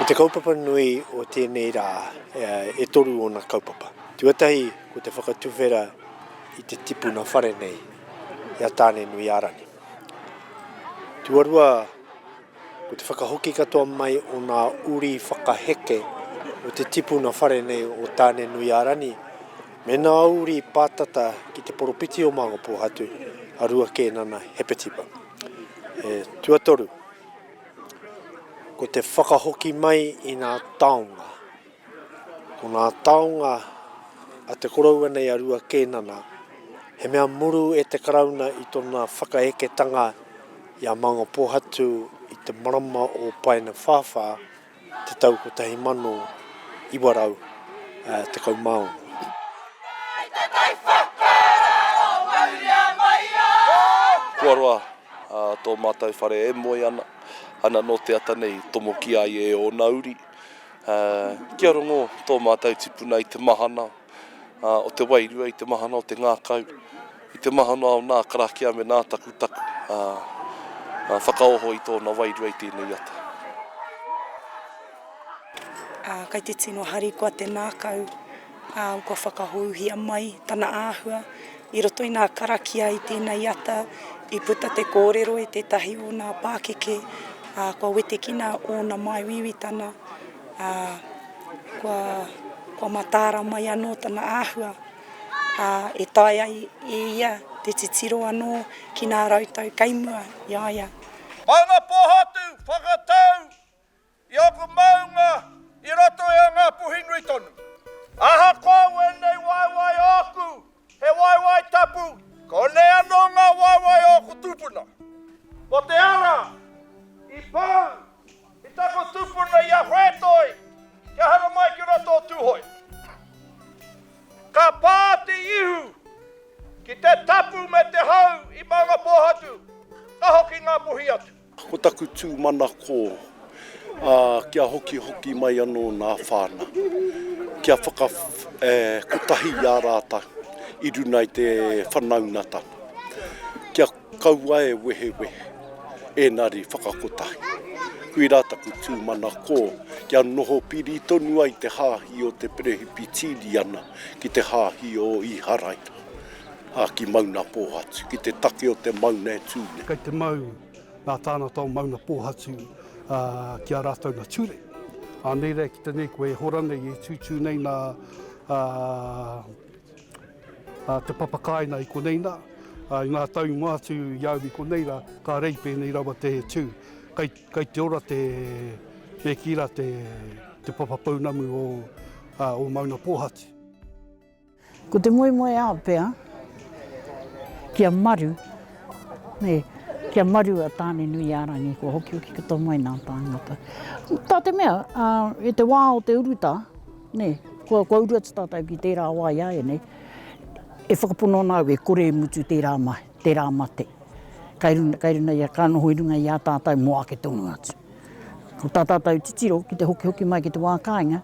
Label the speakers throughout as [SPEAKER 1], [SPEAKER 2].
[SPEAKER 1] Ko te kaupapa nui o tēnei rā, e toru ōna kaupapa. Tuatahi, ko te whakatuwhera i te tipuna whare nei i a Tānenuiārani. Tuarua, Ko te whakahoki katoa mai o ngā uri whakaheke o te tipuna whare nei o Tāne-nui-a-Rani me ngā uri pātata ki te poropiti o Māngapōhatu a Ruakēnana Hepetipa. E, tuatoru, ko te whakahoki mai i ngā taonga. Ko ngā taonga a te koroua nei a Rua Kēnana, he mea muru e te Karauna i tona whakaeketanga i a Mangapōhatu i te marama o Paenewhāwhā te tau 1916.
[SPEAKER 2] Kua roa tō mātou whare e moe ana, ana nō te ata nei i tomokia ai e ōna uri. Kia rongo tō mātou tipuna i te mahana o te wairua, i te mahana o te ngākau, i te mahana o nā karakia me nā takutaku whakaoho i tōna wairua i tēnei ata.
[SPEAKER 3] Kei te tino harikoa te ngākau. ā, kua whakahouhia mai tana āhua. I roto i ngā karakia i tēnei ata, i puta te kōrero i tētahi o ngā pākeke, ā, kua wetekina ōna māuiuitanga, ā, kua, kua mataara mai anō tana āhua, ā, e taea ai e ia te titiro anō ki ngā rautau kei mua i a ia. Mana
[SPEAKER 4] Pōhatu, Whakatau, I aku maunga i roto i a Ngapuhi nui tonu. Ahakoa wēnei waewae ōku, he waewae tapu, konei anō ngā waewae ōku tūpuna. Mō te ara, i pau, i taku tūpuna i a Whētoi, kia haramai ki roto o Tūhoe. Ka pā te ihu ki te tapu me te hau i Maungapōhatu, ka hoki Ngapuhi atu. Ko taku tū
[SPEAKER 5] manako, ā, kia hokihoki mai anō nā whāna, kia whaka, ē, kotahi i a rātou i runa i te whanaungatanga, kia kaua e wehewehe, ēnari whakakotahi. Koirā taku tū manako, kia noho piri tonu ai te hāhi o te Perehipitiriana ki te hāhi o Īharaira. ki Maunapōhatu, ki te take o te mauna e tū nei. Kei te mau
[SPEAKER 6] ngā tāngata o Maunapōhatu ki a rātou na ture. Anei rā ki te nei koe e hora nei, e tūtū nei nā te papakāina i konei nā, i ngā tau i mua atu i au i konei rā, ka rei pēnei rawa te tū. Kei, kei te ora te, me kī rā te, te papapounamu o, o Maunapōhatu.
[SPEAKER 7] Ko te moemoeao pea, kia maru, nē, kia maru a Tāne-nui-ā-rangi kua hokihoki ki tō mai nā tāngata. Tā te mea, i te wā o te urutā, nē, kua, kua uru atu tātou ki tērā wā iāianei, e whakapono ana au e kore e mutu tērā mahi, tērā mate, kai runga, kai runga ia, ka noho i runga i a tātou mō ake tonu atu. Ko tā tātou titiro ki te hokihoki mai ki te wā kāinga,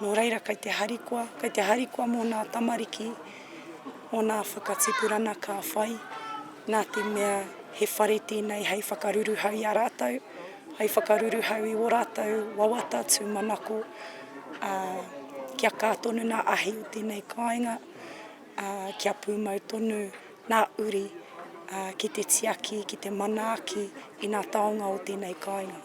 [SPEAKER 3] Nō reira kei te harikoa, kei te harikoa mō nā tamariki, mō nā whakatipurana ka whai, nā te mea he whare tēnei hei whakaruruhau i a rātou, hei whakaruruhau i wō rātou wawata tūmanako, ā, kia kā tonu nā ahi o tēnei kāinga, ā, kia pūmau tonu nā uri, ā, ki te tiaki, ki te manaaki i nā taonga o tēnei kāinga.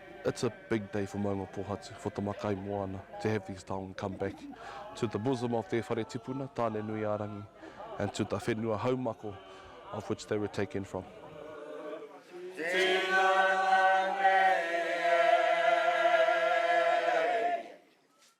[SPEAKER 2] It's a big day for Maunga Pohatu, for Te Makaimoana, to have these taonga come back to the bosom of their whare tipuna, Tāne-nui-ā-rangi, and to the whenua haumako of which they were
[SPEAKER 4] taken
[SPEAKER 2] from.